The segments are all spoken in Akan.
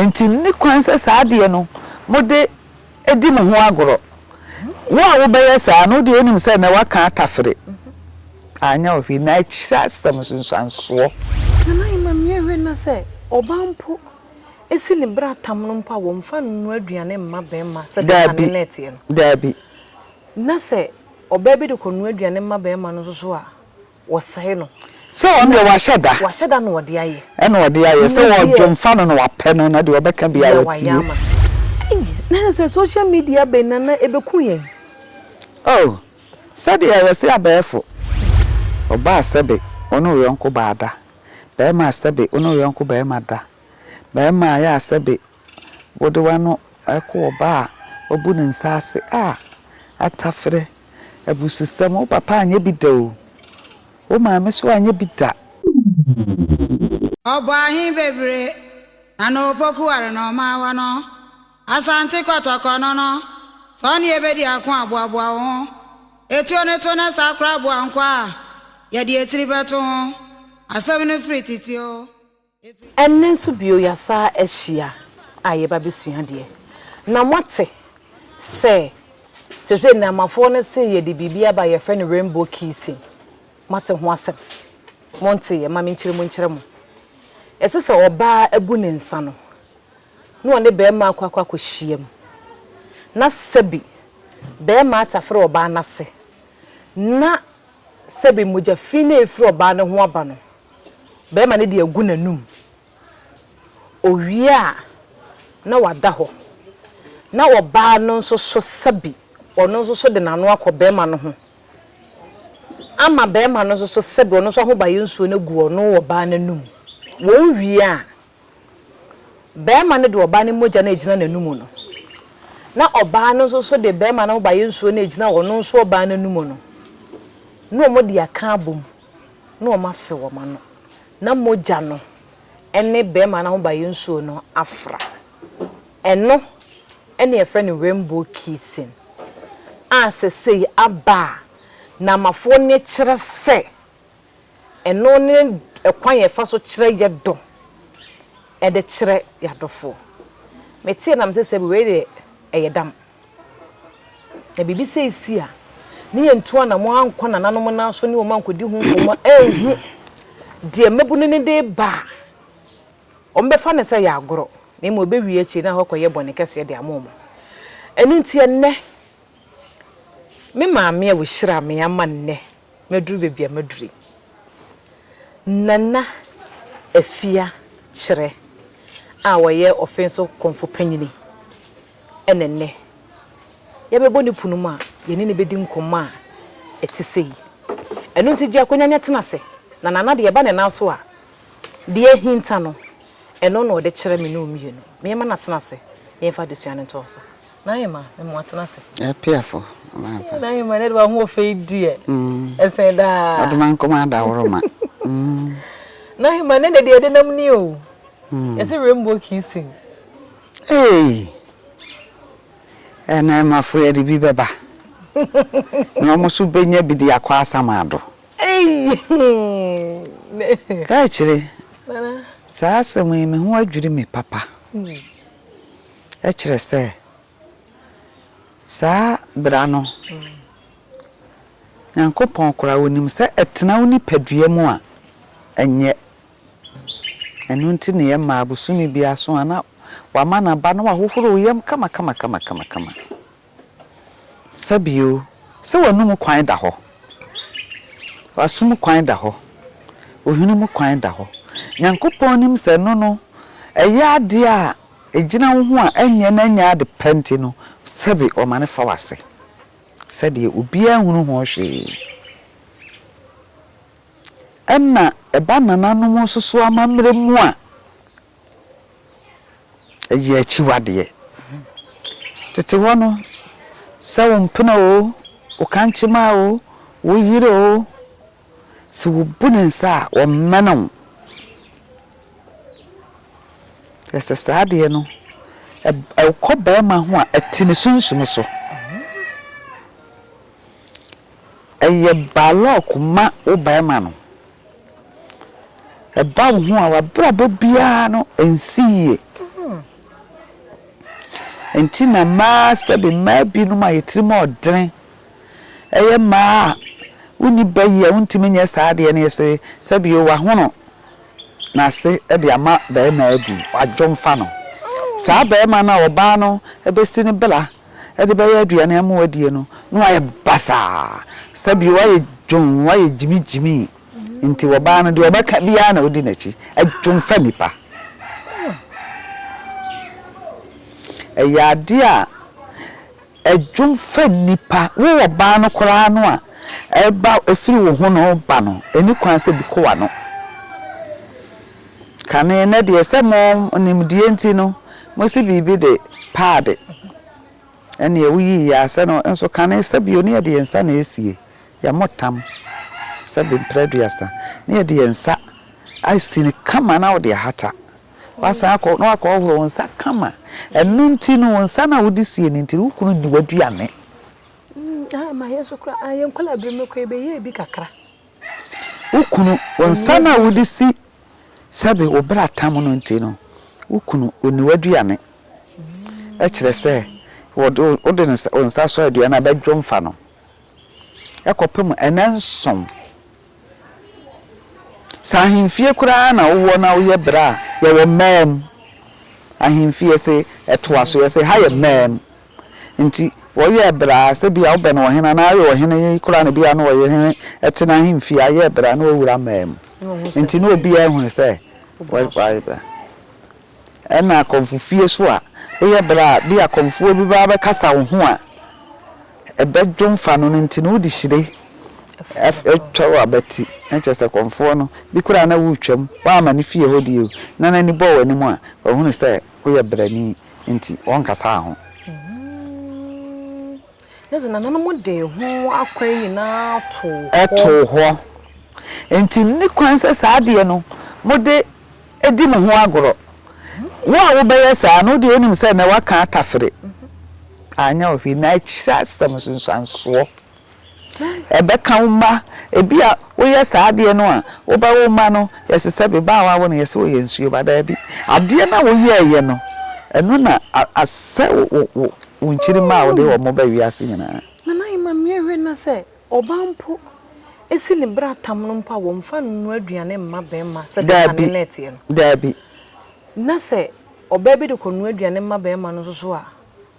Enti nni kwan sɛ saa adeɛ no mode di mo ho agorɔ. Wo a wobɛyɛ saa no, wo deɛ wonim sɛ ɛnnɛ woaka atafere, anyɛ wo hwee, na akyire asɛm nsunsuansoɔ. Nana Ayi ma meɛhwɛ nnɛ sɛ ɔbaa mpo si ne bratam no mpo a wɔmfa nnoa aduane mma barima sɛdeɛ kane no ɛteɛ no. Daabi. Na sɛ ɔbaa bi de kɔnoa aduane ma barima no nso so a, wɔsɛe no. Sɛ wɔn deɛ wɔahyɛ da. Wɔahyɛ da na wɔde ayɛ. Ɛna wɔde ayɛ. Sɛ wɔdwomfa no na wɔapɛ no na deɛ ɔbɛka biara wɔatie. Deɛ wɔayɛ ama no. Ei, na ɛsɛ sɛ social media bɛn na na ɛbɛku yɛn? Oh, sɛdeɛ wɔse abɛɛfo. Ɔbaa a sɛbe wo ne wo yɔnko baa da. Barima a sɛbe wo ne wo yɔnko barima da. Barima a yɛ a sɛbe Wode w'ano kɔ ɔbaa a wabu ne nsa ase a, atafere, abususɛm, wo papa anyɛ bi da o, wo maame nso anyɛ bi da. Ɔbɔ ahe bebre na na opoku ware na ɔma awa no Asante kɔtɔkɔ no no Sɛ ɔne yɛ bɛdi ako a boaboa wo ho Etuo no to na saa koraa boa nkwa a yɛde etiri bɛto ho Asɛm no firi tete o. Ɛnnɛ nso bio yɛasan ahyia a yɛreba abɛsua adeɛ. Na moate sɛ seesei Nanafoɔ no se yɛde biribi aba a yɛfrɛ no rainbow kissing. Moate ho asɛm? Monteeɛ? Ma menkyere mu nkyerɛ mo. Ɛsɛ sɛ ɔbaa abu ne nsa no na ɔne barima akɔ akɔ akɔhyiam na sɛbi barima atafere ɔbaa no ase na sɛbi mogya fi no a ɛfiri ɔbaa no ho aba no barima no de agu n'anom. Owie a, na wada hɔ. Ná ɔbaa no nso so sa bi, ɔno nso so de n'ano akɔ barima no ho ama barima no nso so sa bi, ɔno nso ahobaeɛ nsuo no agu ɔno ɔbaa no anom. Wɔwie a, barima no de ɔbaa no mogya no agyina n'anom no, na ɔbaa no nso so de barima no ahobaeɛ nsuo no agyina ɔno nso ɔbaa no anom no, na wɔde aka abom. na wɔafe wɔn ano, na mogya no ne barima no ahobaeɛ nsuo no afra. Ɛno na yɛfrɛ no rainbow kissing a sɛsɛi aba a Naamafoɔ no kyerɛ sɛ ɛno ne kwan a yɛfa so kyerɛ yɛ dɔ de kyerɛ yɛ adɔfoɔ. Metee na mese sɛbi wei deɛ ɛyɛ dam. Na biribi sei si a, ne yɛntu anammɔn ankɔ nananom nan so ne wɔn ankɔdi ho nkɔmmɔ anhu deɛ mmabunu no de reba a, wɔbɛfa no sɛ ɛyɛ agorɔ, na mmom ɛbɛwie akyire no na wɔakɔyɛ bɔne kɛseɛ de ama wɔn. Ɛno nti ɛnnɛ, me maame a ɔhyiraa me ama nnɛ maduru baabi a maduru yi, Nana Afia Kyerɛ a ɔyɛ Ɔfenso Kɔmfo Panyini, Ɛna nnɛ, yɛbɛbɔ ne pono mu a, yɛne no bɛdi nkɔmmɔ a ɛte sei. Ɛno nti, gye akɔnya nyɛ tena ase, na Nana deɛ ɛba ne nan so a, deɛ ahinta no, ɛno na ɔde kyerɛ me ne wo mmienu. Me mma no atena ase na yɛmfa adesua no ntoɔ so. Naima, me mma wɔatena ase? Apiafo, wɔamfa. Naima, ɛnɛ de w'ahoɔfɛ yi deɛ, ɛsɛn daa. Ɔdoma nkɔmmɔ adaworoma. Naima, ɛnɛ na deɛ yɛde nam nie o. Yɛse rainbow kissing. Eii ɛnɛɛmafo yɛde bi bɛba na ɔmo so bɛnya bi de akɔ asamado. Kaakyire saa asɛm yi me ho adwiri me papa ɛkyerɛ sɛ saa bra no Nyankopɔn koraa onim sɛ ɛtena wo nipadua mu a ɛnyɛ Ɛno nti na yɛmaa bosome bi aso a na wama no aba na wahohoro wo yam kamakamakamakama. Sa bio sɛ w'anom kwan da hɔ, w'asom kwan da hɔ, wo hwene mu kwan da hɔ. Nyankopɔn nim sɛ ɛno no ɛyɛ adeɛ a ɛgyina wo ho a ɛnyɛ na ɛnyɛ ade pa nti no, sɛbe ɔma no fa w'ase sɛdeɛ obiara nhunu ho hwee. Ɛna ɛba nananom nso so amammerɛ mu a, ɛyɛ akyiwadeɛ. Tete hɔ no, sɛ wo mpena oo, wo kankyema oo, wo yere oo, sɛ wobu ne nsa a, wɔmene wo. Kyerɛ sɛ saa adeɛ no, ɛkɔ barima ho a, ɛte ne sunsum so. Ɛyɛ balɔk ma wo barima no. Ɛba wo ho a w'abrabɔ biara no nsi yie. Nti na mmaa sɛbe mmaa binom a yɛ tirim yɛ ɔdene, ɛyɛ mmaa a wonni ba yie a wontumi nyɛ saa adeɛ no yɛse sɛbe o wahono n'ase de ama barima adi, wadwomfa no. Saa barima no a ɔbaa no bɛsi ne bra de bɛyɛ aduane ama wɔadie no, na wɔayɛ basaa, sɛ bio wɔayɛ dwon, wɔayɛ gyimigyimi, nti ɔbaa no deɛ ɔbɛka biara na ɔdi n'akyi, ɛdwon fa nnipa. Ɛyɛ adeɛ a ɛdwon fa nnipa, wo ɔbaa no koraa no a ɛba ɛfiri wo ho no ba no, ɛnni kwan sɛ bi ko w'ano. Kane nnɛ deɛ, sɛ mo nimdeɛ nti no, mosi biribi de paade, ɛnneɛ woyiyi ase no nso, kane sɛ bio ne yɛde yɛn nsa na ɛresie. Yɛmmɔ tam sɛ bemprɛ aduasa, ne yɛde yɛn nsa asi no kama na wode ahata. Woasan akɔ, na woakɔhohoro wo nsa kama. Ɛno nti no, wo nsa no a wode sie no nti no, wo kunu nni w'aduane. Mm, ah, ma yɛn nso koraa, ah, yɛn nkwadaa berɛ mu no koraa, yɛbɛyɛɛ bi kakra. Wo kunu, wo nsa no a wode si sɛbe wo bra tam no nti no, wo kunu ɔnni w'aduane. Ɛkyerɛ sɛ, wode ne nsa, wo nsa so aduane a bɛdwom fa no kɔpem ɛna nson. Sɛ ahemfie koraa na wowɔ na woyɛ bra a, yɛwɔ mmaa mu ahemfie, yɛse ɛtoa so, yɛse ha yɛ mmaa mu. Ntsi wɔyɛɛ ber a sɛ bi a ɔbɛn ɔhen anaa ɔyɛ ɔhen yi koraa na bi a nna ɔyɛ hen tse n'ahemfie a, yɛɛ ber a nna ɔwura mmaa mu. Ntsi nna obiara hun sɛ ɔayɛ ber a Nna akɔmfofie so a, eyɛ ber a bi a akɔmfoɔ bi bɛba abɛkasa wo ho a, ebɛdwomfa no no ntsi no wode hyire atwa wo abati na kyerɛ sɛ kɔmfoɔ no, bi koraa na woretwa mu, woama ne fie hɔ deɛ o, na n'ani bɔ w'anim a, ɔhunu sɛ woyɛ brani. nti wɔnkasaa ho. Na dze nananom de ho akwan nyina too hɔ. Too hɔ. Enti nni kwan sɛ saa adeɛ no mode di mo ho agorɔ. Wo a wobɛyɛ saa no, wo deɛ wonim sɛ nnɛ woaka atafere. Anyɛ wo hwee. Na akyire asɛm nsunsuansoɔ. Ɛbɛka wo mma. Ebia woyɛ saa adeɛ no a, wobɛ wo mma no, yɛse sɛ be ba a woawo no yɛse ɔyɛ nsuo ba, daabi. Adeɛ no a woyɛɛyɛ no, ɛno na asɛ wo wo wo wo nkyirimma a wode wɔn ba wiase nyinaa. Nana Ayi ma meɛhwɛ na sɛ ɔbaa mpo si ne bra tam no mpo a wɔmfa nnoa aduane mma bɛɛma sɛdeɛ Daabi, kane no ɛteɛ no. daabi. Na sɛ ɔbaa bi de kɔnoa aduane ma bɛɛma no nso so a,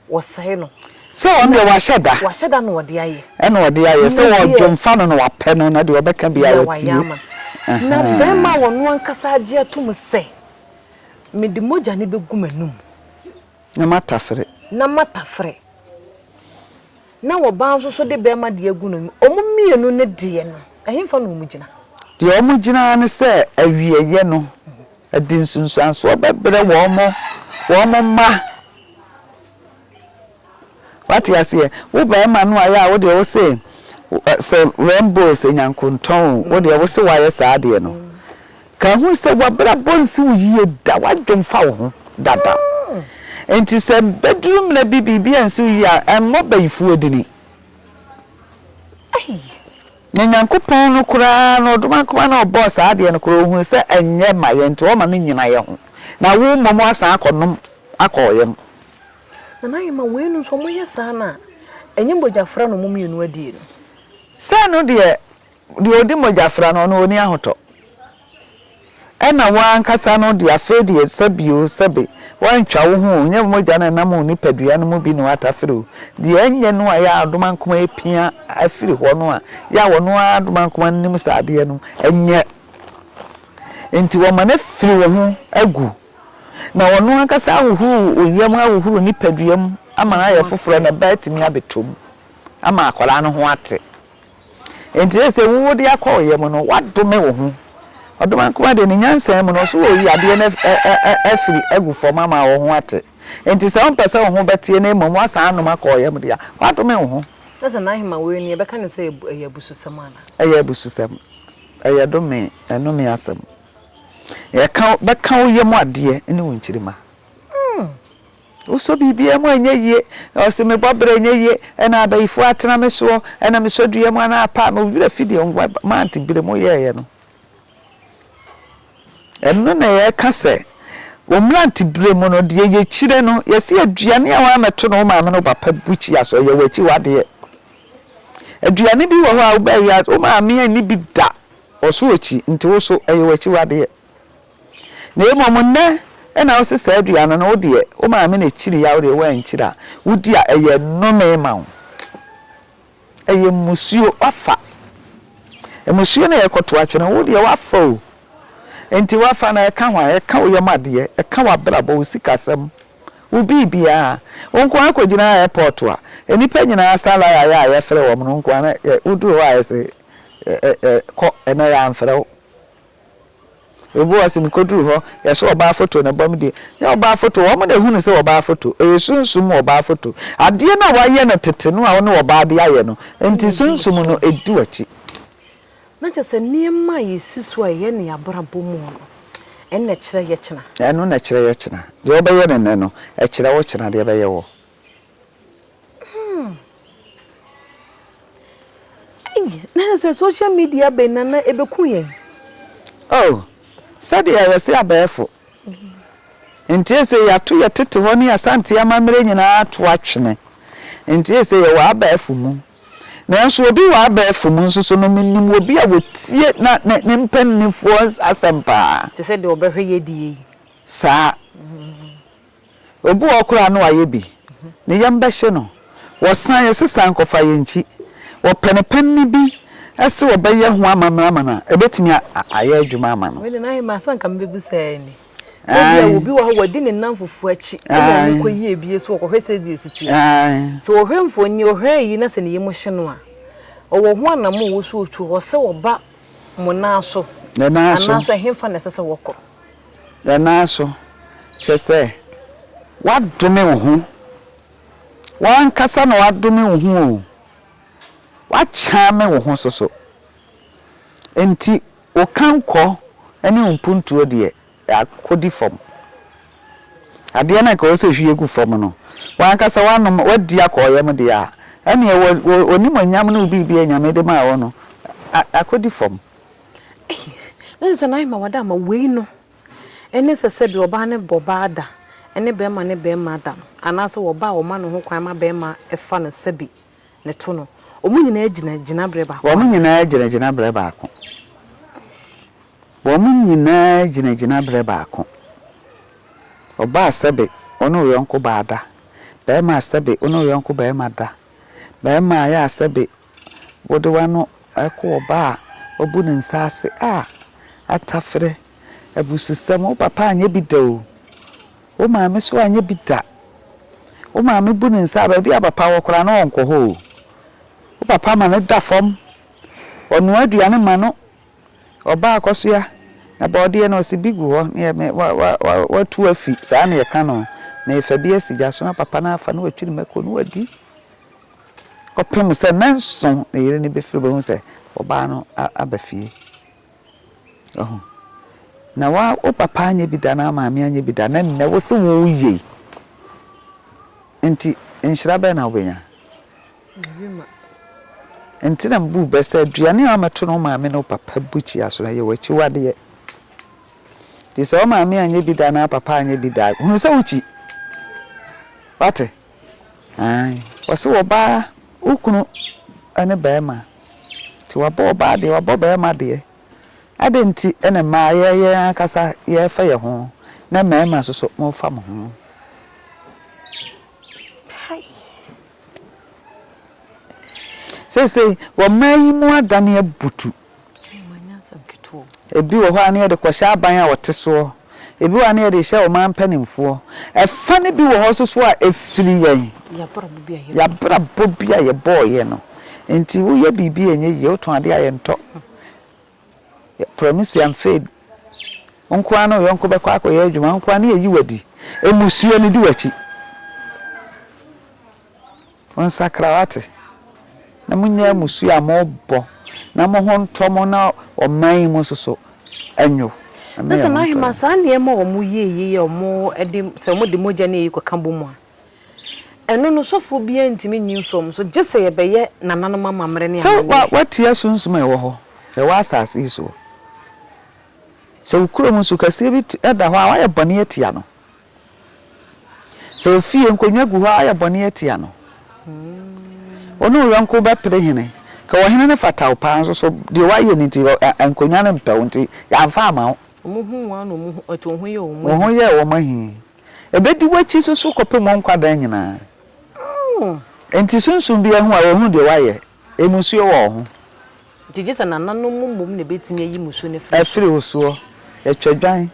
wɔsɛe no. Sɛ wɔn deɛ wɔahyɛ da. Wɔahyɛ da na wɔde ayɛ. Ɛna wɔde ayɛ. Sɛ wɔdwomfa no na wɔapɛ no na deɛ ɔbɛka biara watie. Deɛ wɔayɛ ama no. Na barima a ɔno ankasa agye atom sɛ, Mede mogya no bɛgu m'anom. Na matafere. Na matafere. na wɔbaa nso so de bɛɛma deɛ agu no mu, wɔn mmienu no deɛ no, ɛhefa na wɔn gyina? Deɛ wɔn gyina ara ne sɛ awieɛ no, ɛde nsunsuansoɔ bɛbrɛ wɔn, wɔn mma. Wate aseɛ? Wo bɛɛma no a yɛ a wo deɛ wo se, sɛ rainbow sɛ nyankontɔn o, wo deɛ wo se wayɛ saa adeɛ no, Ka ho sɛ w'abrabɔ nsi wo yie da, w'adwene mfa wo ho da da. Enti sɛ bɛduru mmerɛ bi biribi ansi wo yie a, mmɔ bayifuodini. Na Nyankopɔn no koraa no, Ɔdom Ankoma no a Ɔbɔɔ saa adeɛ no koraa, Ɔhunu sɛ ɛnyɛ ma yɛn, nti Ɔma no nyina yɛn ho. Na wo mmom woasan akɔ nom akɔ Ɔyɛ mu. Na na ayɛ ma weinom nso, wɔyɛ saa no a, ɛnyɛ mogya fra na wɔn mmienu adie no? Sɛ ɛno deɛ, Deɛ ɔdi mogyasra no, ɔno ɔnni ahotɔ. Ɛna wo ankasa no deɛ afei deɛ nsa bio sɛbe woantwa wo ho o, nyɛ mogya no ɛnam wo nipadua no mu bi na woata afiri o, deɛ ɛnyɛ no a yɛ a Adomankoma repia afiri hɔ no a, yɛ a ɔno ara Adomankoma no nim sɛ adeɛ no nyɛ nti ɔma no afiri wo ho agu na ɔno ankasa ahohoro wo yam, ahohoro wo nipadua mu ama no ayɛ foforɔ na ba atumi abɛtɔ mu ama akwadaa no ho ate. Enti ese wo wode akɔ ɔyɛ mu no woadome wo ho. Ɔdoma nkoa deɛ ne nyansa mu no ɔse oyi adeɛ no afiri agu fam ama wo ho ate. Enti sɛ wompɛ sɛ wo ho bɛteɛ na mmom woasan anom akɔ ɔyɛ mu deɛ a, woadome wo ho. Na sɛ n'ahema wei no yɛbɛka no sɛ ɛyɛ abususɛm anaa? Ɛyɛ abususɛm. Ɛyɛ dome, ɛnome asɛm. Yɛka, bɛka wo yam adeɛ ne wo nkyirimma. Wosɔ biribiara mu a ɛnyɛ yie, na wɔse mebɔ bra a ɛnyɛ yie, ɛna abayifoɔ atena me soɔ, ɛna mesɔ dua mu anaa apa a me werɛ fi deɛ Nkɔmant Birimo yɛeɛ no. Ɛno na yɛreka sɛ, Nkɔmant Birimo no, deɛ yɛkyire no, yɛse aduane a woammɛto no wo maame no ba pa bukyia so, ɛyɛ w'akyiwadeɛ. Aduane bi wɔ hɔ a wobaa wiase, wo maame anni bi da, ɔso ɔkyi, nti wo so, ɛyɛ w'akyiwadeɛ. Na mmom nnɛ na wose saa aduan no no wo deɛ wo maame na ɛkyiri ya wo deɛ woankyiri a wodi a ɛyɛ nnome ma wo. Ɛyɛ mmusuo wafa. Mmusuo na yɛkɔto atwene wo wo deɛ wafa o. Nti wafa no ɛka hwan? Ɛka wo yam adeɛ, ɛka w'abrabɔ, wo sikasɛm, wo biribiara. Wo nko ara kɔgyina airport a nnipa nyinaa asa line ayɛ a yɛfrɛ wɔn no wo nko ara na woduru hɔ a yɛse kɔ ɛnnɛ yɛamfrɛ wo. Ebu ɔse mekoduru hɔ yɛse ɔbaa foto na ɛbɔ me deɛ nyɛ ɔbaa foto wɔn na ehunu sɛ ɔbaa foto ɛyɛ sunsum mu ɔbaa foto adeɛ no a wayɛ no tete no a wo ne ɔbaa de ayɛ no nti sunsum no edi wakyi. Na kyerɛ sɛ nneɛma a yɛsi so a ɛyɛ ne abrabɔ mu no ɛna ɛkyerɛ yɛ kyena. Ɛno na ɛkyerɛ yɛ kyena. Deɛ wobɛyɛ no nnɛ no ɛkyerɛ wo kyena deɛ ɛbɛyɛ wo. Hmm. na sɛ social media bɛn na na ɛbɛku yɛn oh sɛdeɛ yɛse abɛɛfo nti ɛsɛ yɛato yɛ tete hɔ ne asante amammerɛ nyinaa to atwene nti ɛsɛ yɛwɔ abɛɛfo mu nanso obi wɔ abɛɛfo mu nso so no menim wɔ bi a wɔtie na ne mpanimfoɔ asɛm paa te sɛ deɛ ɔbɛhwɛ yɛdie yi saa Obi wɔ hɔ koraa na wayɛ bi, ne yam bɛhye no. Wɔsan, yɛse san nkɔfa yɛn nkyi. Wɔpɛnepɛn no bi se wɔbɛyɛ ho amammerɛ ama no a, ɛbɛtumi ayɛ adwuma ama no. Me de na ayɛ me a sɛ anka mebɛbu saa ara ni. Sɛ bia Ae. obi wɔ hɔ, wadi ne nnamfofoɔ akyi na ɔno Ae. kɔyie bi nso ɔkɔhwɛ sɛdeɛ ɛsi teɛ. Ae. Sɛ ɔhwɛ mfonin, ɔhwɛ ayi na sɛ ne yam hye no a, ɔwɔ ho anamɔ a ɔwɔ so ɔtu, ɔsɛ ɔba mo nan so Yɛn nan so. anaasɛ hefa na ɛsɛ sɛ wɔkɔ? Yɛn nan so, kyerɛ sɛ, woadome wo ho. W'ankasa na woadome wo ho oo, woakyame wo ho so so. Enti wo kankɔ ne wo mpuntuo deɛ, akɔdi fam. Adeɛ no a anka ɛwɔ sɛ ɛhwie gu fam no, w'ankasa woanom, woadi akɔ yam deɛ a, ɛnneɛ w'animuonyam ne wo biribi a Nyame de maa wo no, akɔdi fam. Ne nsa no ayɛ ma wada ama wei no ne sɛ sɛdeɛ ɔbaa ne bɔ baa da ne bɛɛma ne bɛɛma da no anaasɛ wɔ ɔbaa a wɔma no ho kwan ma bɛɛma fa no sɛbi ne to no wɔn nyinaa gyina gyinabrɛ baako anaa? Wɔn nyinaa gyina gyinabrɛ baako. Wɔn nyinaa gyina gyinabrɛ baako. Ɔbaa a sɛbe ɔne oyɔnko baa da, bɛɛma a sɛbe ɔne oyɔnko bɛɛma da, bɛɛma a yɛ a sɛbe Wode w'ano kɔ ɔbaa a wabu ne nsa ase a atafere abususɛm. Wo papa anyɛ bi da o. Wo maame nso anyɛ bi da. Wo maame bu ne nsa a, baabi a papa wɔ koraa no ɔnkɔ hɔ o. Wo papa ma no da fam. Ɔnoa aduane ma no. Ɔbaa kɔsoa na bɔɔdeɛ no ɔse bi gu hɔ na yɛ me wa wa wa watu afi. Saa na yɛka no. Mefa bi asi gya so na papa no afa na watwi ne mako na wadi. Ɔpɛ mu sɛ nnanson ne yere no bɛfiri bɛhu sɛ ɔbaa no aba fie. Wahu? Na wo wo papa anyɛ bi da na wo maame anyɛ bi da na nnɛ wo se wo yei. Nti nhyira bɛn na wo bɛnya? Nti na me bu bɛ sɛ aduane a wɔmɛto no wo maame ne wo papa bukyia so no ɛyɛ w'akyiwadeɛ. Firi sɛ wo maame anyɛ bi da na wo papa anyɛ bi da a hunu sɛ wo kyi. Wate? Aane. Wɔse ɔbaa wo kunu ne barima nti wabɔ ɔbaa deɛ wabɔ barima deɛ adɛn nti na mmaa yɛ yɛn ankasa yɛfa yɛn ho na mmarima nsoso mo fa mo ho seisei wɔ mmaa yi mu adane abutu. Ebi wɔ hɔ a na yɛde kɔhyɛ aban a wɔte soɔ, ebi wɔ hɔ a na yɛde rehyɛ ɔman mpanimfoɔ. Ɛfa no bi wɔ hɔ nso so a, ɛfiri yɛn abrabɔ bi a yɛbɔeɛ no. Enti woyɛ biribi a ɛnyɛ yie, wotɔn adeɛ a yɛntɔ, promise and fail, wo nko ara ne wo yɔnko bɛkɔ akɔyɛ adwuma, wo nko ara ne yɛyi wo adi, mmusua no di w'akyi. Monsakra, wate, na monyɛ mo su a mobɔ, na mo ho ntɔ mo na ɔman yi mu nso so nnwo. Ɛnnɛ sɛ n'ahemman saa nneɛma a wɔyɛ yi yɛ wɔn de sɛ wɔde mogya ne eyi kɔka bɔ mu a, ɛno no sɔfoɔ biara ntumi nyi mfam nso gye sɛ yɛbɛyɛ nananom amammerɛ ne amanneɛ. Sɛ woatia sunsum a ɛwɔ hɔ, ɛwɔ asase yi soɔ. Sɛ wo kurom nsu kɛseɛ bi da hɔ a, woayɛ bɔne atia no. Sɛ ofie, nkonnwa gu hɔ ayɛ bɔne atia no. Wo ne wo yɔnko bɛpere hene. Ka ɔhene no fata wo paa nso so, deɛ wayɛ no nti, nkonnwa no mpɛ wo nti, yɛamfa amma wo. Wɔhu wɔn ano, wɔto wɔn ho yɛ wɔn ahi. Wɔn ho yɛ wɔn ahi. Ɛbɛdi w'akyi nso so kɔpem wo nkwa da nyinaa. Enti sunsum bi ahu a, wɔhu deɛ wayɛ. Mmusuo wɔ wo ho. Nti gye sɛ nananom mo mmom na ɛbɛtumi ayi mmusuo no afiri wo so. Afiri wo soɔ. Twa dwan,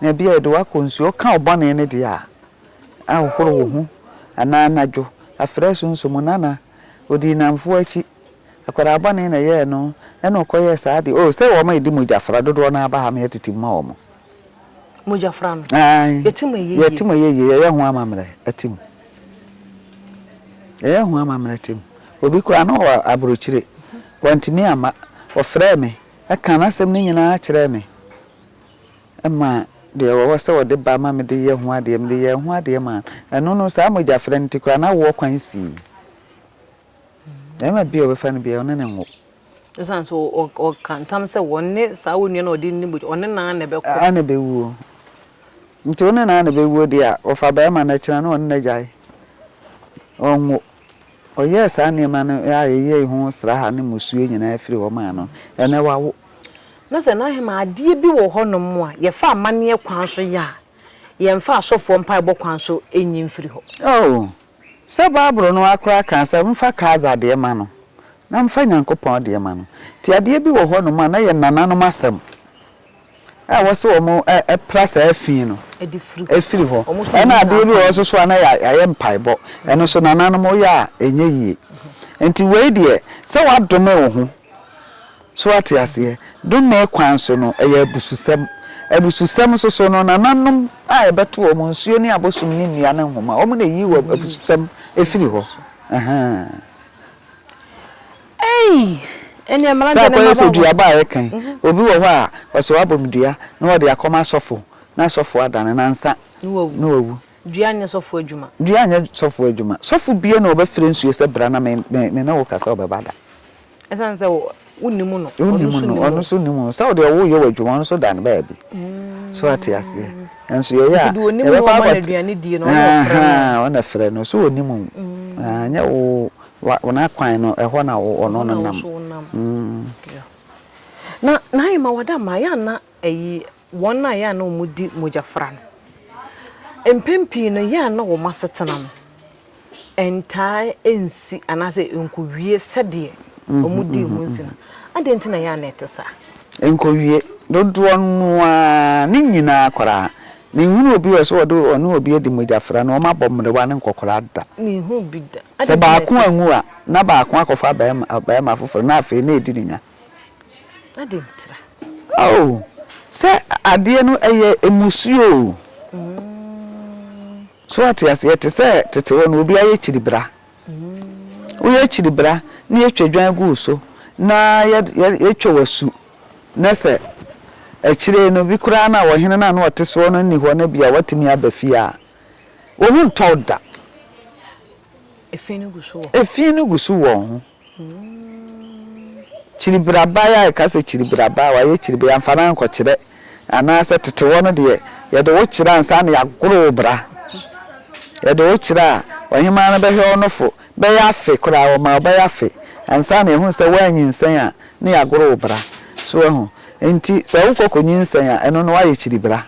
na ɛbia yɛde wo akɔ nsuo. Woka wo bɔne no deɛ a, na hohoro wo ho, anaa anadwo, afrɛ sunsum mu, Nana, ɔdii nnamfo akyi, akwadaa bɔne na ɛyɛɛ no, ɛna ɔkɔyɛɛ saa adeɛ, oh, sɛ wɔn a ɛdi mogya fra dodoɔ no ara ba ha ma yɛtete mu ma wɔn. Mogya fra no. Ae. Yɛte mu ayeyie. Yɛte mu ayeyie. Yɛyɛ ho amammerɛ te mu. Yɛyɛ ho amammerɛ te mu. Obi koraa na ɔwɔ aburokyire. Wantumi amma. Ɔfrɛɛ me. Ɛkaa n'asɛm no nyinaa kyerɛɛ me. Ɛma deɛ ɔwɔ sɛ ɔde ba ma mede yɛ ho adeɛ, mede yɛɛ ho adeɛ maa no. Ɛno no, saa mogya frɛ no nti koraa, na awoɔ kwan sii. Barima biara a ɔbɛfa no biara, ɔne no nwo. Esiane sɛ ɔka ntam sɛ ɔne saa onua no a ɔde ne mogya, ɔne no ara na ɛbɛkɔ. Ara na ɛbɛwuo. Nti ɔne no ara na ɛbɛwuo deɛ a, ɔfa barima no akyiri a, na ɔne no agyae. Ɔnwo. Ɔyɛɛ saa nneɛma no a yɛyɛ yi ho sraha ne mmusuo nyinaa firii hɔ maa no. Ɛnnɛ wawo. Na sɛ n'ahemmaa adeɛ bi wɔ hɔnom a yɛfa amanneɛ kwan so yɛ a, yɛmfa asɔfoɔ mpaebɔ kwan so nyi mfiri hɔ. Oh! Sɛ Bible no ara koraa kaa sɛ mfa Kaesar deɛ ma no, na mfa Nyankopɔn deɛ ma no nti, adeɛ bi wɔ hɔnom a na yɛn nananom asɛm a wɔse wɔpra saa fi no firi hɔ. Ɛna adeɛ bi wɔ hɔ nso so a na yɛayɛ mpaebɔ, ɛno nso nananom yɛ a ɛnyɛ yie. Nti wei deɛ, sɛ woadome wo ho So woate aseɛ? Dommɛɛ kwan so no, ɛyɛ abususɛm. Abususɛm nso so no, nananom a yɛbɛto wɔn nsuo ne abosom ne nnua ne nhoma, wɔn na ɛyi wɔ abususɛm firi hɔ. Ahaa. Ei! Ɛnneɛ mmara Sɛ deɛ ne mma akɔyɛ sɛ bɔmmɔ. duaba a yɛka yi, obi wɔ hɔ a, ɔsɛ wabom dua na ɔde akɔma asɔfo na asɔfo adane no ansa Ne wawu. na wawu. Dua nyɛ sɔfo adwuma. Dua nyɛ sɔfo adwuma. Sɔfo biara na ɔbɛfrɛ nsuo sɛ bra na me ne wo kasa ɔbɛba da. Ɛsiane sɛ wonnim no, ɔno nso nnim wo. Ɔno nso nnim wo. Sɛ wo deɛ woyɛ w'adwuma, ɔno nso da ne baabi. So wate aseɛ? Nanso yɛyɛ a. Nti deɛ ɔnim no ɔma no aduane die no, ɔna frɛ no. Ɔna frɛ no. So ɔnim wo. Nyɛ wo n'akwan no, ɛhɔ na wo ɔno no nam. Na Naima, wada mma, yɛ a na ayi Wɔn a yɛ a na wɔdi mogyafra no, mpɛn pii no, yɛ a na wɔn asetena no ntaa nsi anaasɛ enkowie sɛdeɛ wɔdii ho nsi no. Adɛn nti na yɛ a na ɛte saa? Enkowie. Dodoɔ no ara, ne nyinaa koraa, menhunuu obi wɔ sɛ wɔde ɔne obi adi mogyafra na wɔabɔ mmerewa ne nkɔkoraa da. Menhuu bi da. Sɛ baako anwu a, na baako akɔfa barima barima foforɔ na afei na ɛdi ne nya. Adɛn ntira? Oh, sɛ adeɛ no ɛyɛ mmusuo o. So wate aseɛ? Te sɛ tete hɔ no, obi ayɛ kyiribra. Woyɛ kyiribra na yɛatwa dwan gu wo so na yɛatwa wo asu na sɛ akyire yi no bi koraa no a ɔhene no a na ɔte soɔ no nni hɔ na bi a woatumi aba fie a, wo ho ntɔ wo da. Efi no gu so wɔ. Efi no gu so wɔ wo ho. Kyiribrabaa a yɛka sɛ kyiribrabaa, wayɛ kyiribrabaa, yɛamfa no ankɔkyerɛ anaasɛ tete hɔ no deɛ, yɛde wo kyerɛ ansa na yɛagoro wo bra. Yɛde wo kyerɛ a, ɔhemaa no bɛhwɛ wo nofo bɛyɛ afe koraa, wɔma wo bɛyɛ afe ansa na yɛahunu sɛ woanyinsɛn a, na yɛagoro wo bra. So woahu? Enti sɛ wokɔ kɔnyinsɛn a, ɛno no woayɛ kyiribra.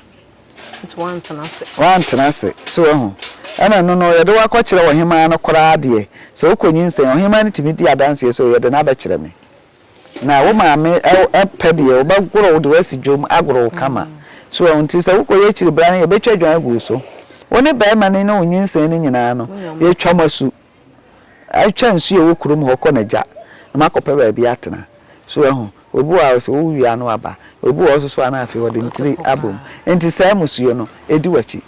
Nti woantena ase. Woantena ase. So woahu? Ɛna ɛno no, yɛde wo akɔkyerɛ ɔhemmaa no koraa deɛ, sɛ wokɔ nyinsɛn, ɔhemmaa no tumi di adanseɛ sɛ, O, yɛde no abɛkyerɛ me. Na wo maame pɛ deɛ, wɔbɛgoro wo de wo asi dwom agoro wo kama. So woahu? Nti sɛ wokɔyɛ akyiri berɛ a, na yɛbɛtwa dwan agu wo so. Wo ne barima no ne wo nyinsɛn no nyinaa no, yɛatwa mo asu. atwa nsu a ɛwɔ kurom hɔ kɔ n'agya na makɔpɛ baabi atena. So wahu? Obi wɔ hɔ a ɔsɛ wowu wie a na waba. Obi wɔ hɔ nso so a na afei ɔde ne tiri abom. Enti saa mmusuo no, ɛdi w'akyi.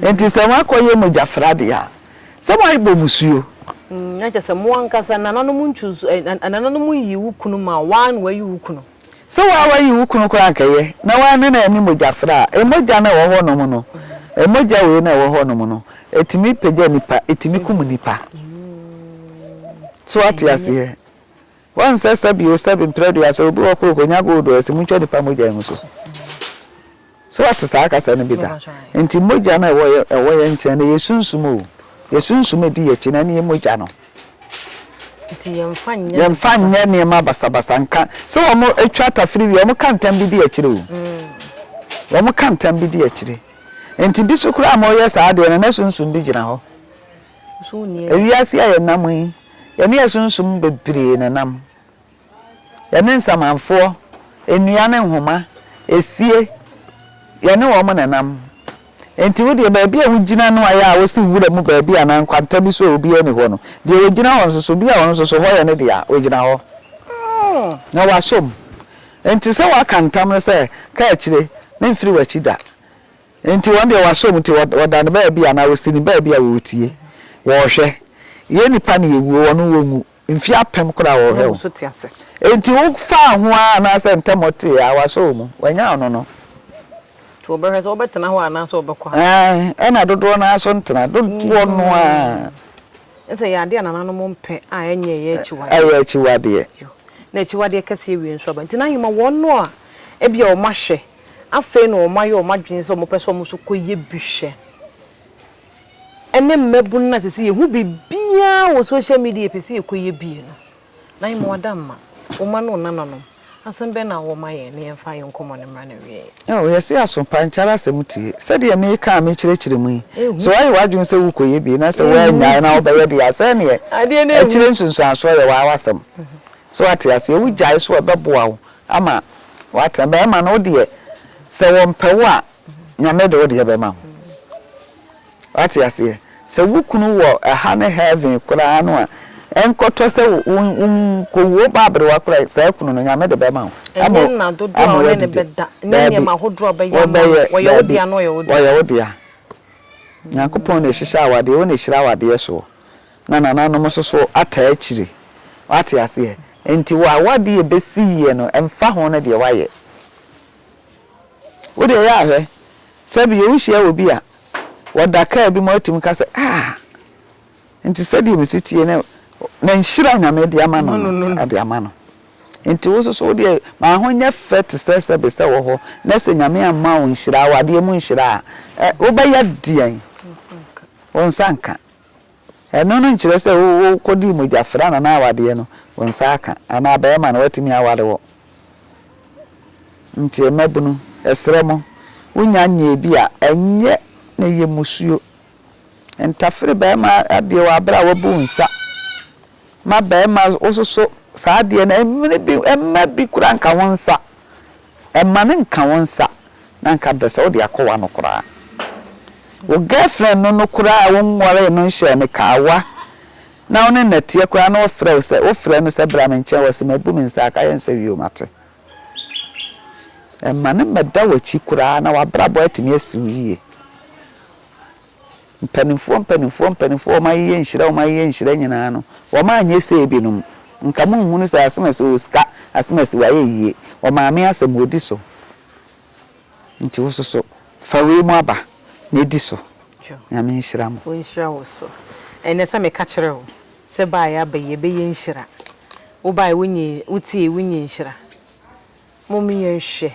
Enti sɛ moakɔyɛ mogyafra deɛ a, sɛ moabɔ mmusuo. Na kyerɛ sɛ mo ankasa nananom nyi wo kunu maa wo ara na woayi wo kunu. Sɛ wo a woayi wo kunu koraa ankɛyɛ na woa ne no anni mogyafra a, mogya no a ɛwɔ hɔnom no, mogya wei no a ɛwɔ hɔnom no, ɛtumi pagya nnipa, ɛtumi kum nnipa. So woate aseɛ? Woahu sɛ sɛbi o sɛbi mprɛ dua sɛ obi wɔ koro kɔnya gold a ɛsɛ montwa nnipa mogya ngu so. So woate saa kasa no bi da? Enti mogya no a ɛwɔ yɛn nkyɛn no, ɛyɛ sunsum o. Yɛn sunsum a ɛdi yɛn akyi no, ɛno yɛ mogya no. Enti yɛmfa nyɛ no basa. Yɛmfa nyɛ nneɛma basabasa nka. Sɛ wɔtwa atafere wie a, wɔka ntam bi di akyire o. Wɔka ntam bi di akyire. Enti bi so koraa ma ɔyɛ saa adeɛ no, na sunsum bi gyina hɔ. Ewiase a yɛnam yi, yɛne asunsum bebree na ɛnam. yɛne nsamanfoɔ, nnua ne nhoma, esie, yɛne wɔn na ɛnam. Enti wo deɛ, baabi a wogyina no ayɛ a wosi nwura mu baabi anaa nkwanta bi so a obiara nni hɔ no, deɛ wɔgyina hɔ nso so, obi a ɔno nso so hɔ yɛ ne dea, ɔgyina hɔ, na wasɔ mu. Enti sɛ woaka ntam no sɛ, Kaakyire, memfiri w'akyi da. Enti wɔn deɛ, wɔasɔ mu nti, wɔda no baabi anaa wɔsi no baabi a wɔretie, wɔrehwɛ. Yɛn nnipa na yɛwuo, wɔn no wɔnwu. Mfe apem koraa a wɔhwɛ wo. Enti wofaa ho ara anaasɛ ntɛm wotee a wɔasɔ wo mu? Wɔannya ɔno no. Nti wɔbɛhwɛ sɛ wobɛtena hɔ anaasɛ wobɛkɔ ha. Aane, ɛna dodoɔ no ara nso ntena. Dodoɔ no ara. Ɛsɛ sɛ ɛyɛ adeɛ a nananom mpɛ a ɛnyɛ ɛyɛ akyiwadeɛ. Ɛyɛ akyiwadeɛ. Yo. Na akyiwadeɛ kɛseɛ wie nso aba. Nti na yoma wɔn a ebia wɔahyɛ, afei na wɔayɛ wɔn adwene sɛ wɔpɛ sɛ wɔn nso kɔyɛ bi hwɛ. ne mmabun na sese yehu biribiara wɔ social media yɛpɛ sɛ yɛkɔ yɛ bi no Naima wada mma wo mma ne wo nananom asɛm bɛn na wowɔ ma yɛn na yɛmfa yɛ nkɔmmɔ no mmra n'awieɛ. Oh, yɛse aso pa nkyare asɛm tie. Sɛdeɛ meeka a mekyerɛkyerɛ mu yi, sɛ woayɛ w'adwene sɛ wokɔyɛ bi na sɛ woannyae na wobɛyɛ deɛ a, sɛɛ ne akyire nsunsuansoɔ yɛ wɔ w'asɛm. So woate aseɛ? Wogyae so a ɛbɛboa wo ama woatena. Barima no, wo deɛ sɛ wɔmpɛ wo a, Nyame de wo deɛ bɛma wo. Wate aseɛ? Sɛ wo kunu wɔ ɛha ne heaven koraa no a, ɛnkɔtɔ sɛ wonkɔwuo ba aberewa koraa, saa kunu no Nyame de bɛma wo ama woadidi. Daabi, wɔyɛ wo dea. Nyankopɔn na ɛhyehyɛ awadeɛ, ɔna ɛhyira awadeɛ soɔ. Na nananom nso so ataa akyire. Wate aseɛ? Nti w'awadeɛ bɛsi yie no, ɛmfa ho ne deɛ woayɛ. Wo deɛ yɛ a hwɛ sɛ bi a wohyia obi a ɔda kaa bi mu a watumi ka sɛ ah nti sɛdeɛ mesi tie ne na nhyira a Nyame de ama no no ade ama no nti wo soso wo deɛ ma ho nyɛ fɛ te sɛ sɛ besɛ wɔ hɔ na sɛ Nyame amma wo nhyira awadeɛ mu nhyira a wobɛyɛ deɛn wo nsa nka. Ɛno no nkyerɛ sɛ wo wo kɔdii mogyafra na na awadeɛ no wo nsa aka anaa barima no watumi aware wo. Nti mmabunu, ɛsrɛ mo, wo nya nyɛɛ bi a, ɛnyɛ na ɛyɛ musuo. Ntafere barima adeɛ wɔ aberɛ a wabu wo nsa. Ma barima wo soso saa adeɛ no, ɛmene bi, ɛmma bi koraa nka wo nsa. Ɛma no nka wo nsa na anka bɛ sɛ wode akɔ w'ano koraa. Wo girlfriend no no koraa a wonwaree no nhyɛɛ no kaawa na wo ne no ɛteɛ koraa na ɔfrɛ wo sɛ wofrɛ no sɛ bra me nkyɛn wɔ se mabu me nsa aka yɛ nsɛ wie o mate. Ɛma no mmɛda w'akyi koraa na w'abrabɔ atumi asi wo yie. Mpanimfoɔ mpanimfoɔ mpanimfoɔ a wɔn ayeyɛ nhyira wɔn ayeyɛ nhyira nyinaa no wɔn anyɛ sɛ ebinom nka mo nhunu sɛ Asmasi oo sika Asmasi wayɛ yie wɔ maame asɛm ɔdi so nti wo soso fa wei mu aba na di so Nyame nhyira mo. Ɔnhyira wo so. Ɛnɛ sɛ meka kyerɛ wo sɛ baeɛ aba yi ɛbɛyɛ nhyira wo baeɛ wo nyɛ wo tiee wo nyɛ nhyira Mom yɛ nhwɛ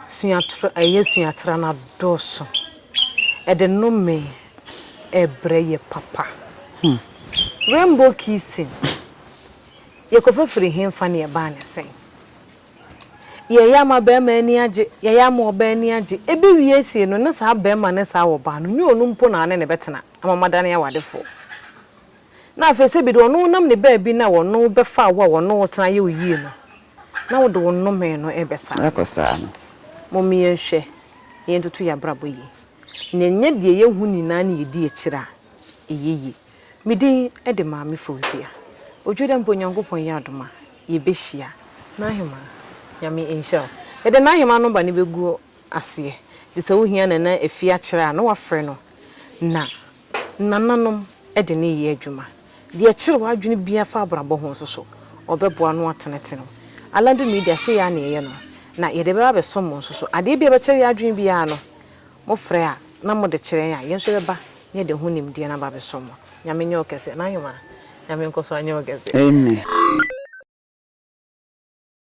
suatra ɛyɛ suatra na dɔɔso ɛde nome ɛbrɛ yɛ papa rainbow kissing yɛ kɔ fa firi henfa ne ɛbaa ne sɛn yɛ yɛ ama bɛɛma ani agye yɛ yɛ ama ɔbaa ani agye ɛbɛ wie sei no na saa bɛɛma ne saa ɔbaa no nyɛ ɔno mpo na ɔne ne bɛtena ama mo adane awadefoɔ. Na afei sɛ bi de ɔno nam ne baabi na ɔno bɛfaa wo a ɔno tena yɛ wo yie no, na wode wo nnome no rebɛsa no. Ɛkɔ saa no. Mom yɛnhwɛ na yɛntoto yɛn abrabɔ yie, na ɛnyɛ deɛ yɛhu nyinaa na yɛdi akyire a, ɛyɛ yie. Me din de Maame Fauzia. Odwo da mpo Nyankopɔn yɛ adom a, yɛbɛhyia. N'ahemaa. Nyame nhyira wo. Yɛde N'ahemaa nɔmba no bɛgu aseɛ, nti sɛ wohia Nana Afie akyerɛ a na wafrɛ no na Nananom de ne yɛ adwuma. Deɛ ɛkyere w'adwene biara fa abrabɔ ho nso so, ɔbɛboa no atenetenew. Alando Media sei ara na yɛyɛ no, na yɛde bɛba abɛsom mo nso so. Adeɛ biara a ɛbɛkyere yɛn adwene biara no, mo frɛ a na mo de kyerɛ yɛn a, yɛn nso yɛbɛba na yɛde ɛho nimdeɛ no aba abɛsom mo. Nyame nyɛ wo kɛse. Nayoma, Nyame nkɔ so anyɛ wo kɛse. Amen.